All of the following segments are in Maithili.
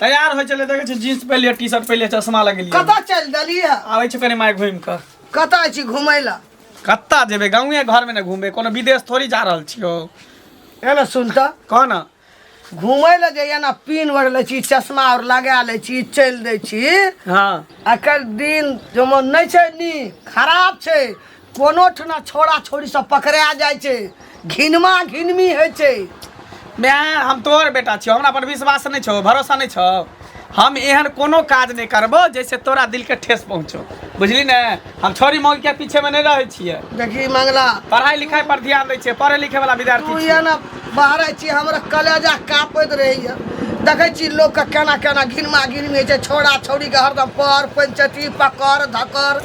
तैयार होइ छलै देखै छै जीन्स पहिलिए टी शर्ट पहिलिए चश्मा लगेलिए कतऽ चलि देलियै आबै छै कनि माय घुमि कऽ कतऽ छी घुमै लए कतऽ जेबै गाँवे घरमे ने घुमबै कोनो विदेश थोड़ी जा रहल छियौ एना सुन तऽ कह ने घुमै लए जे एना पीन ओढ़ लै छी चश्मा आओर लगा लै छी चलि दै छी हँ एकर दिन जमन नहि छै नीक खराब छै कोनो ठना छोड़ा छोड़ी सब पकड़ा जाए छे घिनमा घिनमी है छे मैं हम तोहर बेटा छियो हमरा पर विश्वास नहीं छो भरोसा नहीं छो हम एहन कोनो काज नहीं करबो जैसे तोरा दिल के ठेस पहुंचो बुझली ने हम छोरी मौगी के पीछे में नहीं रहे छिए देखी मंगला पढ़ाई लिखाई पर ध्यान दे छिए पढ़े लिखे वाला विद्यार्थी तू ये ना बाहर छी हमरा कलेजा कापत रही है देखे छी लोग के केना केना घिनमा घिनमी है छे छोड़ा छोड़ी के हरदम पर पंचटी पकड़ धकर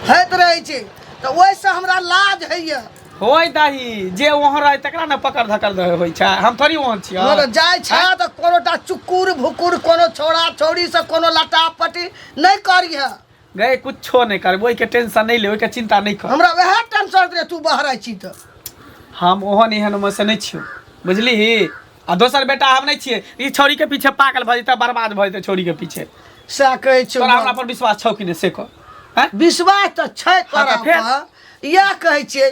होइत रहै छै तऽ ओहिसँ हमरा लाज होइए होय दही जे वहाँ रहे तकरा ने पकड़ धकड़ रहे होइ छै हम थोड़ी वहाँ छियै हँ तऽ जाइ छै तऽ कोनो टा चुकुर भुकुर कोनो छौड़ा छौड़ीसँ कोनो लटा पटी नहि करिहे गए कुछो नहीं करबो ओहिके टेंशन नहीं ले ओहिके चिंता नहीं कर हमरा वएह टेंशन रहै तू बहराइ छी तऽ हम ओहन एहन में से नहीं छियो बुझली आ दोसर बेटा हम नहीं छिए ई छोरी के पीछे पागल भ जेते बर्बाद भ जेते छोरी के पीछे से कहे छौ तोरा हमरा पर विश्वास छौ कि नहीं से को विश्वास त छै हाँ, तोरा पर या कहे छिए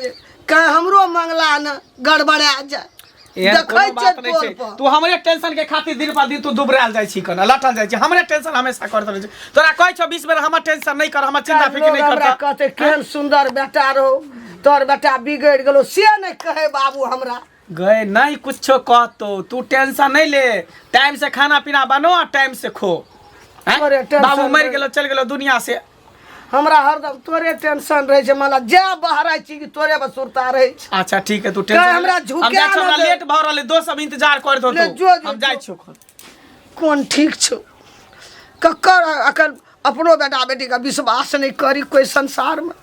कहे हमरो मंगला न गड़बड़ा जाए तू हमरे टेंशन के खातिर दिन पर दिन तू दुबराल जाय छी कन लटल जाय छी हमरे टेंशन हमेशा करत रहे छी तोरा कहै छ 20 बेर हमर टेंशन नै कर हमर चिंता फिकिर नै कर कहते केहन सुंदर बेटा रहो तोर बेटा बिगड़ गेलो से नै कहे बाबू हमरा गए नहीं कुछ कहतो तू टेंशन नहीं ले टाइम से खाना पीना बनो और टाइम से खो हैं? अरे, टेंशन बाबू मर नहीं। गेलो चल गेलो दुनिया से हमरा हरदम तोरे टेंशन रहे छै मला जे बहराइ छी कि तोरे बस सुरता रहे छै अच्छा ठीक है तू टेंशन हमरा ले। झुका हम जाइ छौ, ना हमरा दे। लेट भऽ रहल है दोस्त सब इंतजार करत ले, जो, होतो जो, हम जाइ जो। छियो कोन ठीक छौ ककर अखन अपनो बेटा बेटीके विश्वास नहि करी कोइ संसारमे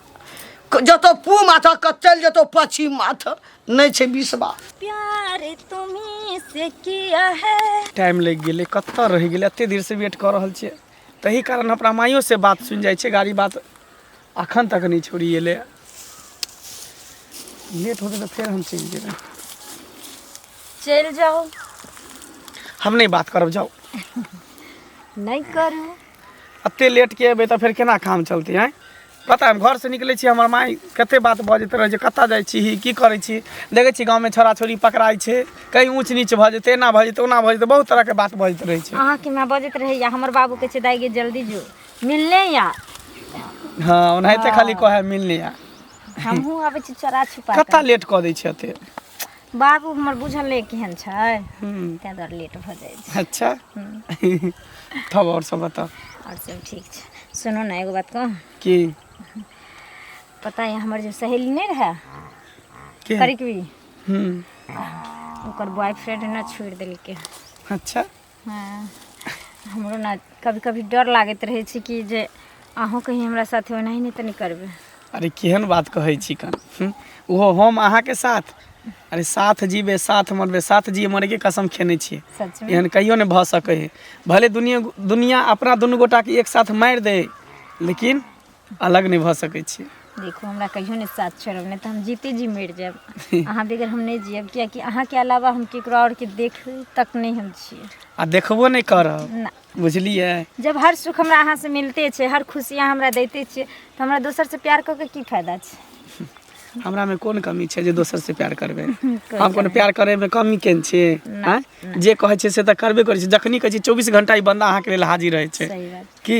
क- जतऽ पू माथा कऽ चलि जेतौ पश्चिम माथा नहि छै विश्वास प्यार तुम्हें से किया है टाइम लागि गेलै कतऽ रहि गेलै एतेक देरसँ वेट कऽ रहल छियै तही कारण अपना माइयोसँ बात सुनि जाइ छै गाड़ी बात अखन तक नहि छोड़ी एले लेट होते तो फिर हम चलि जेबै चलि जाओ हम नहीं बात करब जाओ नहीं करू अते लेट के अबै तऽ फेर केना काम चलते हैं पता हम घर से निकले छी हमर माई कते बात बजैत रहे जे कतऽ जाइ छी की करै छी देखै छी गाँव में छोरा छोरी पकड़ाइ छै कहीं ऊँच नीच भऽ जेतै एना भऽ जेतै ओना भऽ जेतै बहुत तरह के बात बजैत रहे छै अहाँके माँ बजैत रहैया हमर बाबू कहै छै दाई गे जल्दी जो मिलने या हाँ ओनाहिते खाली कहे मिलने या हमहूँ अबै छी चोरा छुपा कऽ। कता लेट कऽ दै छै एते बाबू हमर बुझल नहि केहन छै हम्म, ताहि दुआरे लेट भऽ जाइ छै अच्छा तब और सब बताओ आओर सब ठीक छै सुनू ने एगो बात कहूँ की पता यऽ हमर जे सहेली नहि रहए के करिकवी हम्म, ओकर बॉयफ्रेंड ने छोड़ि देलकै अच्छा हँ हमरो ने कभी कभी डर लागैत रहै छै कि जे अहूँ कहीं हमरा साथे ओनाही नहि तऽ नहि करबै अरे केहन बात कहै छी कन हूँ? ओहो हम अहाँके साथ अरे साथ जीबे साथ मरबे साथ जिए मरेके कसम खेने छियै सच में एहन कहियो नहि भऽ सकै है भले दुनिया दुनिया अपना दुनू गोटाके एक साथ मारि दे लेकिन अलग नहि भऽ सकै छी देखू हमरा कहियो नहि साथ छोड़ब नहि तऽ हम जीते जी मरि जायब अहाँ बगैर हम नहि जियब कियाकि अहाँके अलावा हम केकरो आओर के देख तक नहि हम छियै आ देखबो नहि करब ना बुझलियै जब हर सुख हमरा अहाँ से मिलते छै हर खुशी अहाँ हमरा दैते छियै तऽ हमरा दोसर से प्यार कऽ के की फायदा छै हमरा में कोन कमी छै जे दोसर से प्यार करबै कोइ हम कोनो प्यार करे में कमी केन छी ना, आँय? जे कहै छै से तऽ करबे करै छै जखनी कहै छै चौबीस घंटा ई बंदा अहाँके लेल हाजिर रहै छै सही बात की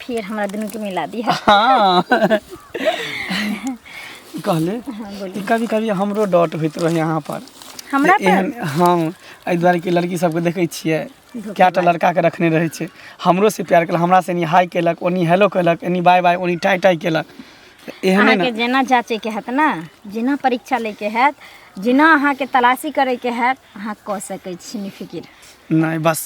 फिर हमरा दुनू के मिला दिया हाँ कहले हाँ, बोली। कि कभी कभी हमरो डॉट होइत रहे यहाँ पर हमरा जे पर एहन हाँ एहि दुआरे कि लड़की सबके देखै छियै धोखेबाज। कए टा लड़का के रखने रहै छै हमरो से प्यार केलक हमरा से एनी हाय केलक ओनी हेलो केलक एनी बाय बाय ओनी टाइ टाइ केलक तऽ एहने अहाँके ने जेना जाँचैके हैत ने जेना परीक्षा लैके हैत जेना अहाँके तलाशी करैके हैत अहाँ कऽ सकै छी निफिकिर नहि बस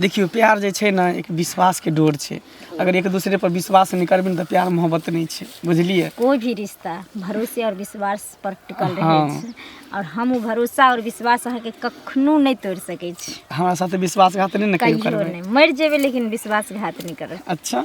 देखियौ प्यार जे छै ने एक विश्वासके डोर छै अगर एक दूसरे पर विश्वास नहि करबै ने तऽ प्यार मोहब्बत नहि छै बुझलियै कोई भी रिश्ता भरोसे और विश्वास पर टिकल रहै हाँ। छै और हम उ भरोसा और विश्वास अहाँके कखनो नहि तोड़ सकै छी हमरा साथे विश्वासघात नहि ने कहियो कहियो करबै नहि मरि जेबै लेकिन विश्वासघात नहि करब अच्छा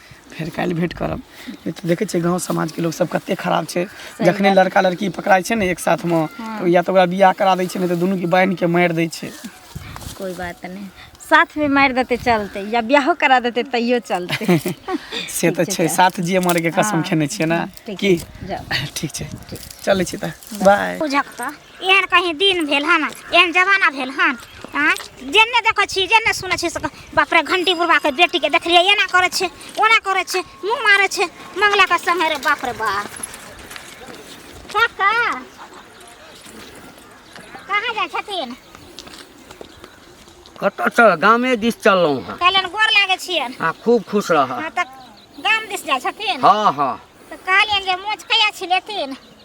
फेर काल्हि भेंट करब नहि तऽ देखै छियै गाँव समाजके लोक सब कते खराब छै जखने लड़का लड़की पकड़ाइ छै ने एक साथमे तऽ या तऽ ओकरा बियाह करा दै छै नहि तऽ दुनूके बान्हि के मारि दै छै कोई बात नहीं साथ में मार देते चलते या ब्याहो करा देते तैयो चलते से तऽ छै साथ जिए मरैके कसम खेने छियै ने ठीक की छै, जाओ। ठीक छै चलै छी तऽ बाय बुझक तऽ एहन कहीं दिन भेल हन एहन जमाना भेल हन आँय जेने देखै छी जेने सुनै छी से बाप रे घंटी बुढ़बाके बेटीके देखलियै एना करै छै ओना करै छै मुँह मारै छै मंगलाके संगे रे बाप रे बाप काका कहाँ जाइ छथिन कतऽ चल गामे दिस चललहुँ हँ कहलन गोर लागै छियनि आ खूब खुश रह हँ तऽ गाम दिस जाइ छथिन हँ हँ तऽ कहलियनि जे मोच कहिया छिलेथिन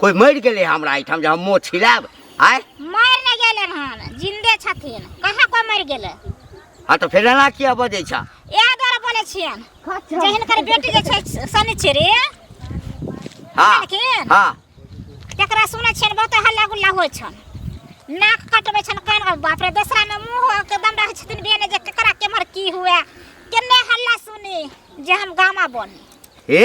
कोई मरि गेलै हमरा एहिठाम जे हम मुँह छिलायब आय मरि नहि गेलै हन जिन्दे छथिन कहाँ कोइ मरि गेलै हँ तऽ फेर एना किया बजै छह इएह दुआरे बोलै छियन जे हिनकर बेटी जे छै शनिचरी हँ लेकिन हँ तकरा सुनै छियन बहुत हल्ला गुल्ला होइ छन नाक कटबै छन कान कटबै- बाप रे दोसरा में मुंह एकदम रहै छथिन बेने जे केकरा केमर की हुए केने हल्ला सुनी जे हम गामा बनी हे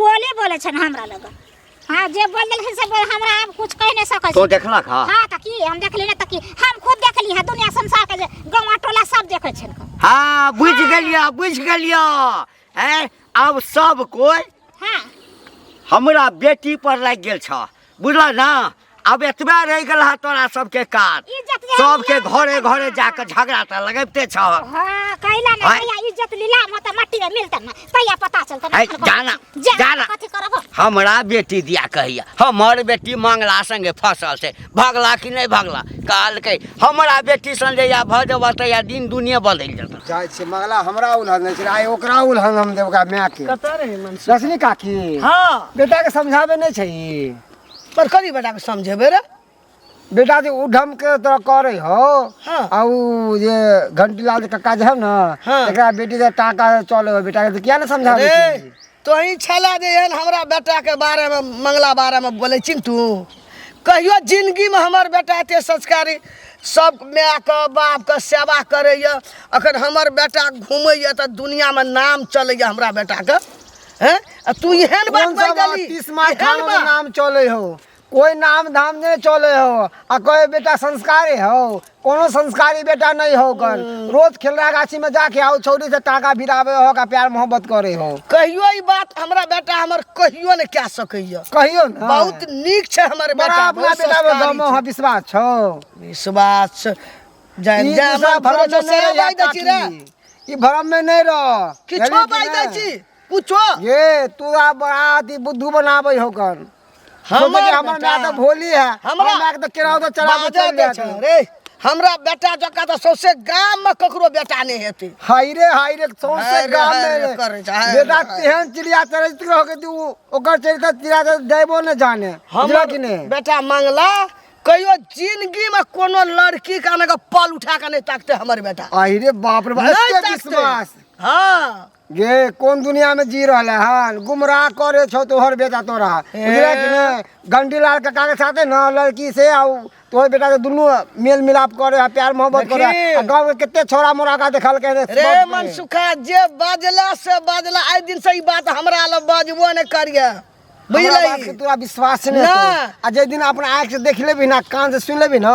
बोले बोले छन हमरा लग हां जे बोल देलखिन से बोल हमरा हम कुछ कह नहीं सकै तो देखला खा हां त की हम देखली ना त की हम खुद देखली है दुनिया संसार के जे गांव टोला सब देखे छन हां बुझ गेलिया बुझ गेलिया हैं अब सब कोई हां हमरा बेटी पर लाग गेल छ बुझल ना अब एतबे रह गल है तोरा सबके काज इज्जत ले सबके लिया। घरे घरे जाके झगड़ा टा लगबते छ हाँ, कैला ना आय। कैला इज्जत लीला में तो मट्टी में मिलता ना तैया पता चलता आय, जाना, जाना। कथी करबो हमरा बेटी दिया कहिया हमर बेटी मंगला संगे फसल से भगला कि नहीं भगला कहलकै हमरा बेटी संगे या भऽ जेबह तऽ या दिन दुनिया बदलि जेतह जाइ छी मगला हमरा उलहन नहि छै आइ ओकरा उलहन हम देब ओकरा मायके कतऽ रहै मन रश्मि काकी हाँ बेटाके समझाबै नहि छै ई पर कथी बेटा के समझेबै रे बेटा जे उधम के तो करे हो हाँ। आ उ जे घंटीलाल के काका जे है ना हाँ। एकरा बेटी के टाका चले हो बेटा के तो किया ना समझावे अरे, छी? तोही छला जे एहन हमरा बेटाके बारेमे मंगला बारेमे बोलै छी तू कहियो जिनगीमे हमर बेटा एते संस्कारी सब मायके बापके सेवा करैए अखन हमर बेटा घुमैए तऽ दुनियामे नाम चलैए हमरा बेटाके हैं तू एहन बात कह देली तीस मार थाना में नाम चले हो कोई नाम धाम नहीं चले हो आ कहे बेटा संस्कारी हो कोनो संस्कारी बेटा नहीं हो कर रोज खेलरा गाछी में जाके आओ छौरी से टाका भिरावे हो का प्यार मोहब्बत करे हो कहियो ई बात हमरा बेटा हमर कहियो ने कह सकैया कहियो ना बहुत नीक छै हमर बड़ा बेटा अपना बहुत बेटा में संस्कारी गमो छै। हो विश्वास छो विश्वास छै। जान ई जा दूसरा हमर भरम भरोसा में से नहीं बाइ दै छी रे रह ई भरम में नहीं रह किछो बाइ दै छी कुछो ये तू आ बड़ा अथी बुद्धू बनाबै हो कर हमर हमर हमर बेटा- माय तऽ भोली है हमरा- हमरा माय के तऽ केराव तऽ चढ़ा बाजऽ दे दे छौ रे हमरा बेटा जकाँ तऽ सौंसे गाममे ककरो बेटा नहि हेतै हाय रे हाय रे सौंसे हाय रे, गाम हाय में रे, रे। करै छै, हाय रे, बेटा हाय। तेहन चिड़िया चरित्र हो गई उ ओकर चरित्र चिड़िया के देबो ने जाने बुझलऽ हमर कि ने बेटा मंगला कहियो जिंदगीमे कोनो लड़की के अनके पल उठा कऽ नहि ताकते हमर बेटा आहि रे बाप रे बाप नहि एते ताकते। विश्वास हाँ गे कोन दुनिया में जी रहले हन गुमराह करे छो तोहर बेटा तोरा बुझले कि ने गंडीलाल काका के साथे ना लड़की से आउ तोहर बेटा के दुनू मेल मिलाप करे है प्यार मोहब्बत करे है देखी। आ गांव के कितने छोरा मोरा का देखल के रे रे बाप मन सुखा जे बाजला से बाजला आइ दिन से ई बात हमरा लग बाजबो ने करिए हमरा बात के बुझलही तोरा विश्वास नहीं ना। होतो। आ जे दिन अपना आँख से देख लेबी ना कान से सुन लेबी ना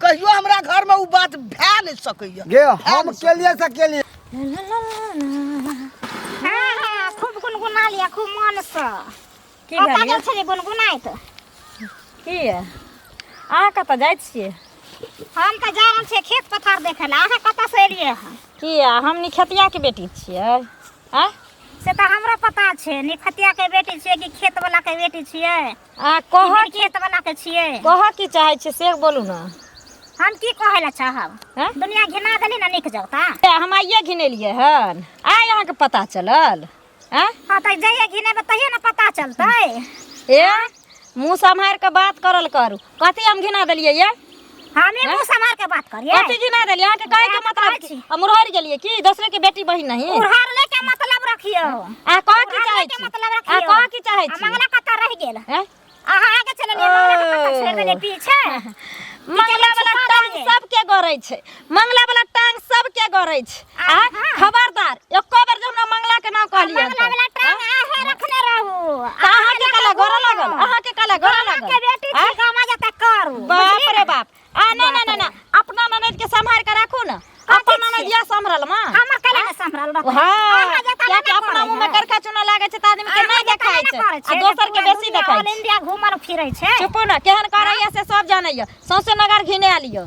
कहियो हमरा घर में उ बात भै नहीं सके ये गे हम के लिए से के लिए हाँ, खूब गुनगुना लिया खूब मन से की कतऽ भेल गेल छलियै गुनगुनाइत की ये अहाँ कतऽ जाइ छियै हम तऽ जा रहल छियै खेत पथार देखै लए अहाँ कतऽसँ एलियै हँ की ये हमनी खेतियाके बेटी छियै आँय से तऽ हमरो पता छै निखतियाके बेटी छियै कि खेतवलाके बेटी छियै अहाँ कहऽ कहऽ की खेत बना के छियै कहऽ की चाहै छियै से बोलू ने हम की कहै लए चाहब हैं? दुनिया घिना देली ने नीक जगता ए, हम आइए घिनेलियै हन आइ अहाँके पता चलल आँय हाँ तऽ जहिया घिनेबै तहिया ने पता चलतै ए मुँह सम्हारि कऽ बात करल करू कथी हम घिना देलियै ये हमे हैं? मुंह समार के बात करिए कथी की ना देलिए अहाँ के कहे के बात मतलब करै छी। हम उड़हर गेलिए की दूसरे के बेटी बहिन नहीं उड़हर ले के मतलब रखियो आ कह की उड़हर चाहे ले के छी मतलब आ रखियो कह की चाहे आ छी मंगला कतऽ रह गेल हैं? अहाँ आगे चललिए मंगला के कतऽ ओ। छोड़ देलिए पीछे मंगला वाला छुपा टांग देलिए। सबके गरै छै मंगला वाला टांग सबके गड़ै छै आ खबरदार एको बेर जे हमरा मंगला के नाम कहलियै मंगला वाला टांग आहे रखने रहू अहाँ के काला गड़ऽ लागल अहाँ के काला गड़ऽ लागल के बेटी छी गामा जता करू बाप रे बाप आ ना ना ना ना अपना ननद के संभाल के राखू ना अपन ननद या संभरल मां हमर काला ने संभरल रखू हां क्या के अपना मुंह में करखा चुना लागे छै त आदमी के नहीं देखाय छै आ दोसर के बेसी देखाय छै इंडिया घुमल फिरै छै चुप ना केहन करैया से सब जानैया सौंसे नगर घिने आलियो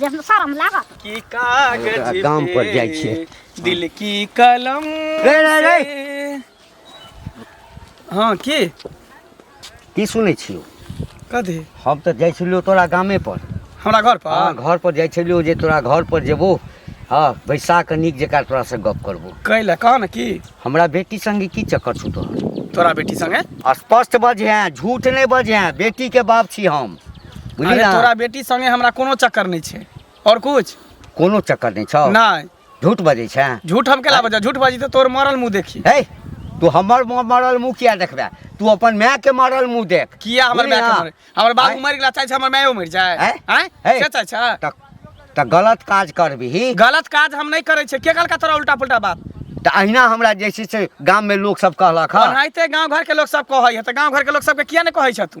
जब शर्म लागत की कागज दाम पर जाइ छै। पे दिल की कलम रे, रे, रे। से- हाँ की की सुनै छियो कथी हम तऽ जाइ छलियो तोरा गामे पर हमरा घर हाँ पर घर पर जाइ छलियो जे तोरा घर पर जेबो हाँ बैसा कऽ नीक जकाँ तोरा से गप करबो कैला कह न की हमरा बेटी संगे की चक्कर छौ तोहर तोरा बेटी संगे स्पष्ट बजहे झूठ नहि बजहे बेटी के बाप छी हम बुझली अरे ने तोरा बेटी संगे हमरा कोनो चक्कर नहि छै और कुछ कोनो चक्कर नहि छौ नहि झूठ बजै छै झूठ हम केला बजा झूठ बाजी तऽ तोर मरल मुंह देखी हे तू हमर म- मरल मुँह किया देखबे तू अपन माय के मरल मुँह देख किया हमर बुझली माय के ने? मरे हमर बाबू आँय? मरि गेला चाहे छै हमर मायो मरि जाए आँय? आँय हे। से चाहे छै तऽ तऽ गलत काज करबिही गलत काज हम नहि करै छियै के कहलका तोरा उल्टा पुल्टा बात तऽ अहिना हमरा जे छै से गाममे लोकसभ कहलक हँ ओनाहिते गाँव घरके लोक सब कहै है तऽ गाँव घरके लोक सबके किया नहि कहै छह तू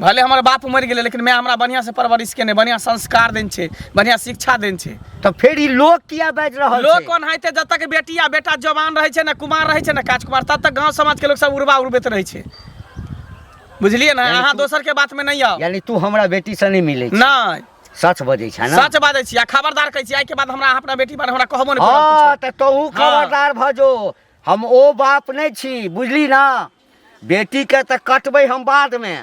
भले हमर बाप मरि गेलै लेकिन माय हमरा बढ़िआँसँ परवरिश केने बढ़िआँ संस्कार देने छै बढ़िआँ शिक्षा देने छै तऽ फेर ई लोक किया बाजि रहल लोक छै कोन हेतै जब तक बेटी आ बेटा जवान रहै छै ने कुमार रहै छै ने काजकुमार तब तक गाँव समाजके लोक सब उड़बा उड़बैत रहै छै बुझलियै ने यानी अहाँ तू- दोसरके बातमे नहि आउ यानी तू हमरा बेटी से नहीं मिले नहि सच बजे छा ना सच बाजै छी आ खबरदार कहै छी आइके बाद हमरा अहाँ अपना बेटी बारे हमरा कहबो नहि करब हाँ किछो। तऽ तोहू हाँ। खबरदार भऽ जो हम ओ बाप नहीं छी बुझली ना बेटी के तऽ कटबै हम बाद मे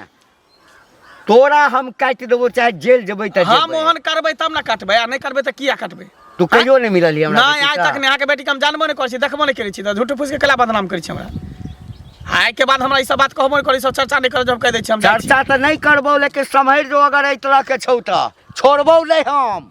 तोरा हम काटि देबो चाहे जेल जेबै तऽ हम जेबै। ओहन करबै तब ने कटबै आ नहि करबै तऽ किया कटबै तू कहियो नहि मिलल ही हमरा नहि बेटी आइ सँ। तक नहि अहाँके बेटीके हम जानबो नहि करै छी देखबो नहि करै छी तऽ झूठ फूस के कला बदनाम करै छी हमरा आइ के बाद हमरा ई सब बात कहबो नहि करै सब चर्चा नहि करै जब कह दै छी हम जाइ छी। चर्चा तऽ नहि करबौ लेकिन सम्हरि जो अगर एहि तरह के छौ तऽ छोड़बौ नहि हम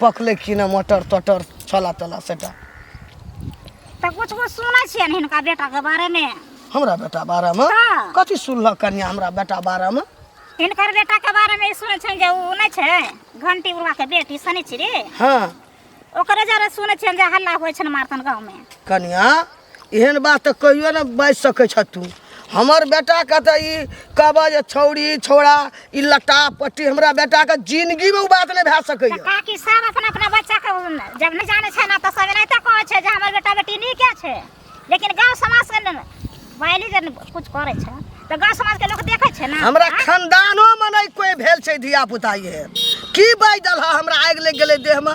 पकले की ना मटर टटर छला तला सेटा तो कुछ कुछ सुनै छियै ने हिनका बेटा के बारे में हमरा बेटा बारे में हाँ। कथी सुनलक कन्या हमरा बेटा बारे में हिनकर बेटा के बारे में ई सुनै छियै जे ऊ नै छै घंटी उड़वा के बेटी सनी छिरी हाँ ओकरे जरे सुनै छियै जे हल्ला होइ छै मारतन गांव में कन्या एहन बात तऽ कहियो ने बाजि सकै छह तू हमर बेटाके तऽ ई कहबह जे छौड़ी छौड़ा ई लट्टा पट्टी हमरा बेटाके जिनगीमे ओ बात नहि भए सकैए काकी सब अपना अपना बच्चाके जब नहि जानै छै ने तऽ सब एनाहिते कहै छै जे हमर बेटा बेटी नीके छै लेकिन गाँव समाजके ने बाइली जे किछु करै छै तऽ गाँव समाजके लोक देखै छै ने हमरा आँय? खानदानोमे नहि कोइ भेल छै धियापुता एहन की बाजि देलह हमरा आगि लागि गेलै देहमे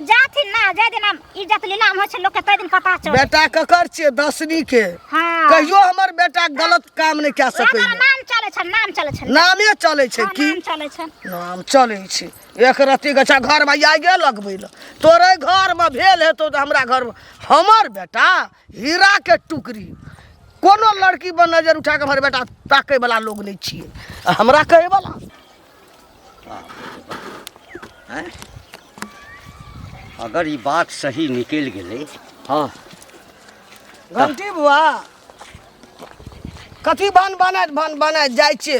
जाथिन ना जाय दिन हम इज्जत नीलाम होइ छै लोक के तै दिन पता चल बेटा ककर छियै दसनी के हां कहियो हमर बेटा गलत काम नहि कए सकैए नाम चलै छै नाम चलै छै नामे चलै छै की नाम चलै छै नाम चलै छै एक रत्ती गछा घरमे आगे लगबै लए तोरे घरमे भेल हेतौ तऽ हमरा घरमे हमर बेटा हीराके टुकड़ी कोनो लड़की पर नजर उठा कऽ हमर बेटा ताकयवला लोग नहि छियै हमरा कहयवला अगर ये बात सही निकल गए हाँ घंटी बुआ कथी भान बना भान बना जाए छे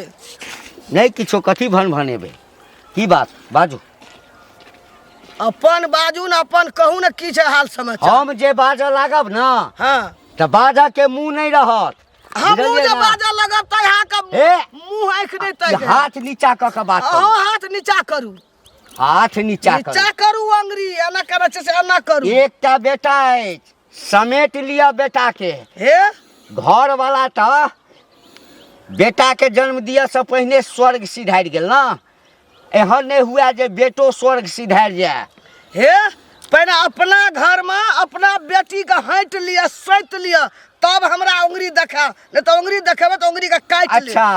नहीं किछो कथी भन भनेबे की बात बाजू अपन बाजू न अपन कहू न की छे हाल समाचार हम जे बाजऽ लागब ना हाँ तऽ बाजऽ के मुँह नहीं रहत हमहूँ बुझलियै जे ने? बाजऽ लगब तऽ अहाँके हे! मुँह आँखि नहि तैर जायत। हाथ नीचा कऽ के बात अहूँ करू हाथ नीचा करू हाथ नीचा करू नीचा करू अंगरी एना करै छै से एना करू एकटा बेटा अछि समेट लिअ बेटा के हे घर वाला तऽ बेटा के जन्म दिअ से पहिने स्वर्ग सिधारि गेल ने एहन नहि हुए जे बेटो स्वर्ग सिधारि जाए हे पहिने अपना घरमे अपना बेटीके हटि लिअ सोति लिअ तब हमरा उंगरी देखाएब नहि तऽ उंगरी देखेबै तऽ उंगरीके काटि लेब अच्छा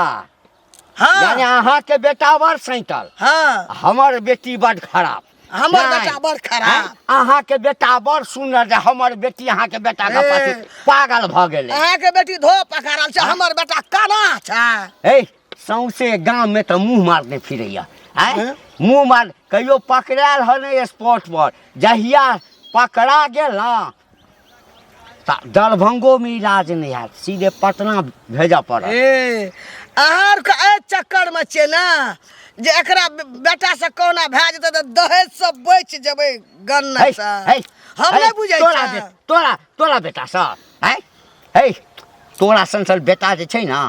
हँ यानी अहाँके बेटा बड़ सैतल हँ हमर बेटी बड खराब हमर नहि। बेटा बड़ खराब। हैं? अहाँके बेटा बड़ सुनर जे हमर बेटी अहाँके बेटा के ए। पाछू पागल भऽ गेलै अहाँके बेटी धो पकड़ल छै हमर बेटा कना छै हे सौंसे गाम में तो मुंह मारने फिरैया आय हैं? मुंह मार कहियो पकड़ायल हो नहीं स्पॉट पर जहिया पकड़ा गेल ना ता दरभंगो में इलाज नहीं है सीधे पटना भेजा पड़ा ए अहाँ के एहि चक्कर में छियै ने जे एकरा बे- बेटा से कोना भए जेतै तऽ दहेज सब बचि जेबै गन्ना से हम नहि बुझै तोरा छियै बे- तोरा तोरा बेटा सा आय है तोरा संसल बेटा जे छै ने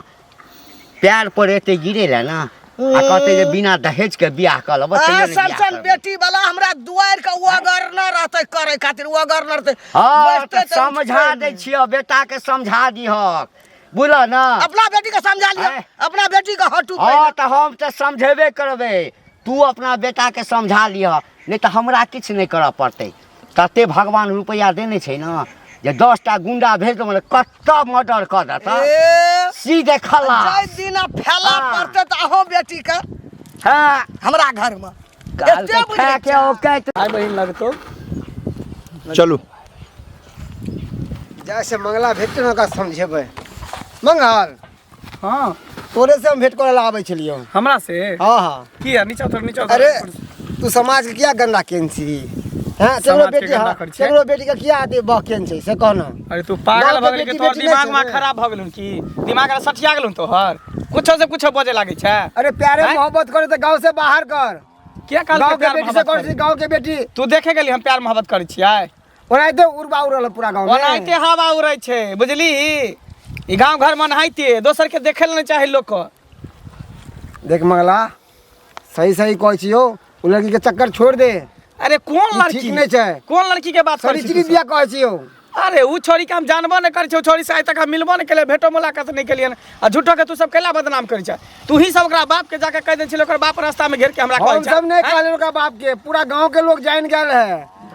पैर पर एते गिरे ले ना आ कहते जे बिना दहेज के बियाह कर लेबो तैयो आ ने बियाह सनसन करबो। बेटी वाला हमरा दुआर के ओगरना रहते करे खातिर ओगरना रहते हाँ बैठते तऽ तऽ समझा उठते दै नहि। छियो बेटा के समझा दिहक बुझल ना अपना बेटी के समझा लियो आँय? अपना बेटी के हटू हाँ पहिले। तऽ हम तऽ समझेबे करबै तू अपना बेटा के समझा लिह नहि तऽ हमरा किछु नहि करऽ पड़तै तते भगवान रुपैआ देने छै ने जे दस टा गुंडा भेज देबो ने कतऽ मर्डर कऽ देता ए, सीधे खला जाहि दिना फैला हाँ। पड़तै तऽ अहो बेटी के हाँ हमरा घर में काल एते के बुझै खा के छह। औकाइत भाई बहन लगतो चलू जैसे मंगला भेटते ने ओकरा समझेबै मंगल हाँ तोरे से हम भेंट करे ला आवे छलियो हमरा से हाँ हाँ की है नीचा उतर नीचा उतर अरे तू समाज के क्या गंदा केन छी हैं केकरो समाज के बेटी गंदा हाँ कर छै। केकरो बेटी के क्या आते बह केन छै से कहना अरे तू पागल गाँव के भगल के बेटी तोहर बेटी दिमाग नहीं में छै। खराब भगल हन की दिमाग में सठिया गेल हन तोहर कुछो से कुछो बजे लागे छै अरे प्यारे हैं? मोहब्बत करे तो गांव से बाहर कर के काल गांव के के प्यार बेटी से मोहब्बत कर करी? गांव के बेटी तू देखे गेली हम प्यार मोहब्बत करै छियै ओनाहिते उड़बा उड़ल पूरा गाँव ओनाहिते हवा उड़ै छै बुझली ई गाँव घर में नहाइते दोसर के देखे ले चाहे लोग को देख मंगला सही सही कहै छियो ओ लड़की के चक्कर छोड़ दे अरे कौन लड़की ठीक नहीं छै कौन लड़की के बात करै छी बिया कहै छियो अरे उ छोरी के हम जानबो नहीं करै छी उ छोरी से आइ तक हम मिलबो नहीं केले भेटो मुलाकात नहीं केलियन आ झूठो के तू सब कैला बदनाम करै छै तू ही सब ओकरा बाप के जाके कह दे छिले ओकर बाप रास्ता में घेर के हमरा कहै हम छै सब नहीं हैं? कहले ओकरा बाप के पूरा गांव के लोग जान गेल है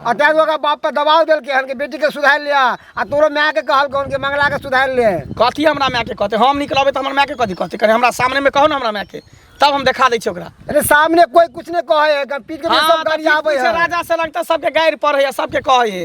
आ तै ओकरा बाप पर दबाव देल के हन के बेटी के सुधार लिया आ तोरो माय के कहल कौन के मंगला के सुधार ले कथी हमरा माय के कहते हम निकलबे तऽ हमर माय के कथी कहते कने हमरा सामने में कहो ना हमरा माय के तब हम देखा दै छी ओकरा अरे सामने कोई कुछ नहीं कहे है अगर पीट के हाँ, सब तऽ गाड़ी आवे पीपुल से है राजा से लगता सबके गाड़ि पढ़े है सबके कहे है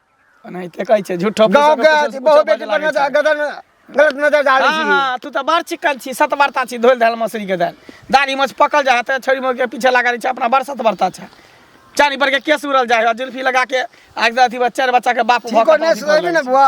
नहीं ते कहै छै झूठो गाँव के अथी बहुत बेटी पर नजर गदर गलत नजर डालै हाँ छी हाँ तू तो बड़ चिकन छी सत बरता छी धोल धाल मसरी के दाल दाढ़ी मछ पकल जा हते छोरी मोर के पीछे लगा रही छै अपना बड़ सत बरता छै चानी पर के केस उड़ल जा है जुल्फी लगा के आज अथी बच्चा बच्चा के बाप भऽ ठीको के नहीं बाप सुधरबी ना बुआ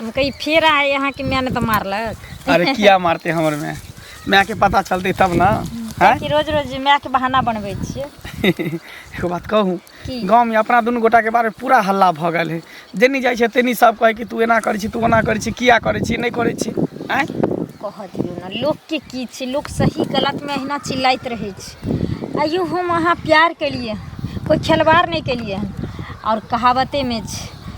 हम कही फेर आए यहाँ के मैंने तो मारलक अरे किया मारते हमर में माय के पता चलते तब ना हैं कि रोज रोज माय के बहाना बनबै छियै एगो बात कहूँ की? गाँव में अपना दुनू गोटा के बारे में पूरा हल्ला भऽ गेल है जेनी जाइ छै तेनी सब कहै कि तू एना करै छी तू ओना करै छी किया करै छी नहि करै छी आँय कह दियौ ने लोकके की छै लोक सही गलतमे अहिना चिल्लाइत रहै छै आइयो हम अहाँ प्यार केलिए कोइ खेलवाड़ नहि केलिए हन आओर कहावतेमे छै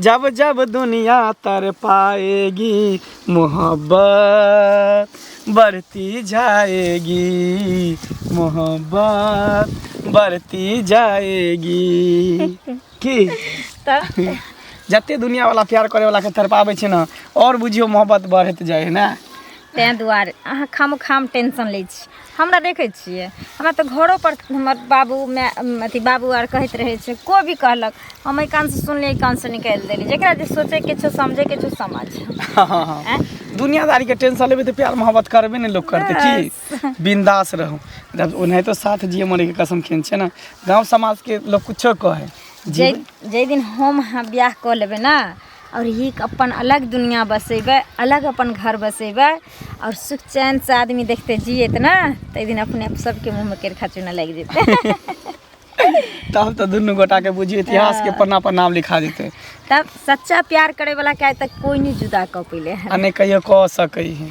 जब जब दुनिया तर पाएगी मोहब्बत बढ़ती जाएगी मोहब्बत बढ़ती जाएगी की तऽ जते दुनिया वाला प्यार करे वाला के तरपावे छै ना और बुझियो मोहब्बत बढ़त जाए है ना ताहि दुआरे अहाँ खाम खाम टेंशन लै छी हमरा देखै छियै हमरा तऽ घरोपर हमर बाबू माय अथी बाबू आर कहैत रहै छै कोइ भी कहलक हम एहि कानसँ सुनलियै एहि कानसँ निकालि देली जकरा जे सोचैके छौ समझैके छौ समझ हाँ, हाँ, हाँ। आँय? दुनियादारी के टेंशन लेबे तो प्यार मोहब्बत करबे नहीं लोग करते की बिंदास रहू जब उन्हें तो साथ जिए मरे के कसम खेन छे ना गांव समाज के लोग कुछो कहे जाहि जाहि दिन हम अहाँ बियाह कऽ लेबै ने आओर ई अपन अलग दुनिआ बसेबै अलग अपन घर बसेबै आओर सुख चैनसँ आदमी देखतै जियत ने ताहि दिन अपने सबके मुँहमे केरखा चूना लागि जेतै तब तऽ दुनू गोटाके बुझियौ इतिहासके हँ। पन्ना पर नाम लिखा जेतै तब सच्चा प्यार करैवला के आइ तक कोइ नहि जुदा कऽ पयले है आ नहि कहियो कऽ सकै है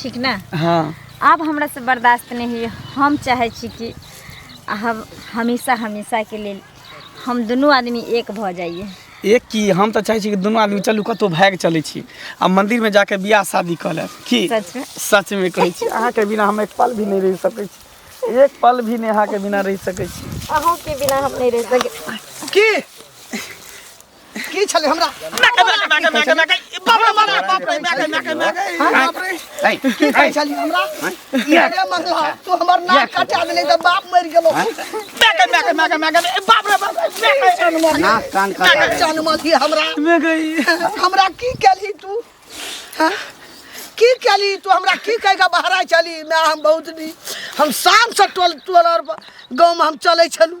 ठीक ने हँ आब हमरा से बर्दाश्त नहीं हुई हम चाहे छी कि हम हमेशा हमेशा के लेल हम दुनू आदमी एक भऽ जाइए एक की हम तऽ चाहै छी कि दुनू आदमी चलू कतहु भागि चलै छी आ मंदिर में जाके बियाह शादी कऽ लेब की सच में? सच में कहै छी अहाँके बिना हम एक पल भी नहीं रहि सकै छी एक पल भी नहीं अहाँके बिना रहि सकै छी अहूँ के बिना हम नहीं रह सके की की छले हमरा मैके मैके मैके मैके मैके ई बाप रे बाप रे बाप रे मैके मैके मैके ई बाप रे ऐ की ऐ छले हमरा ये अरे मंगला तू हमर नाक कटा देले त बाप मर गेलो मैके मैके मैके मैके ई बाप रे बाप रे मैके जान मार नाक कान का मैके जान मार दी हमरा मैं गई हमरा की केली तू हाँ? की केली तू हमरा की कह के बहरा चली मैं हम बहुत नी हम शाम से टोल टोल और गाँव में हम चले छलू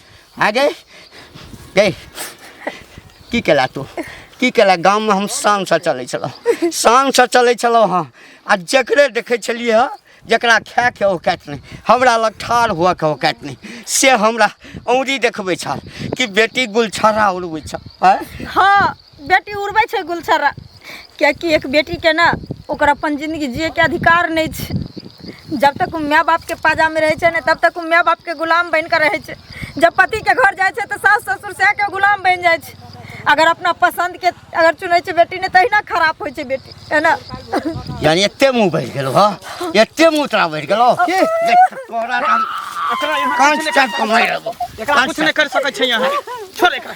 आ गए गए की केला तू की केला गाममे हम शानसँ चलै छलहुँ शानसँ चलै छलहुँ हँ आ जकरे देखै छलियै हँ जकरा खायके औकात नहि हमरा लग ठाढ़ हुअके औकात नहि से हमरा औँरी देखबै छल कि बेटी गुलछर्रा उड़बै छह आँय हँ बेटी उड़बै छै गुलछर्रा किएकि एक बेटीके ने ओकर अपन जिन्दगी जियैके अधिकार नहि छै जब तक ओ माय बापके पाजामे रहै छै ने तब तक ओ माय बापके गुलाम बनि कऽ रहै छै जब पतिके घर जाइ छै तऽ सास ससुर सएहके गुलाम बनि जाइ छै अगर अपना पसन्दके अगर चुनै छै बेटी ने तहिना खराप होइ छै बेटी है ने यानी एते मुंह बढ़ि गेलो हँ एते मुंह तोरा बढ़ि गेलो के? देख, तोरा तऽ हम एकरा यहाँ कांच किछु नहि चाट कऽ मारि देबो एकरा कुछ नहीं कर सकै छै यहाँ छोड़ एकरा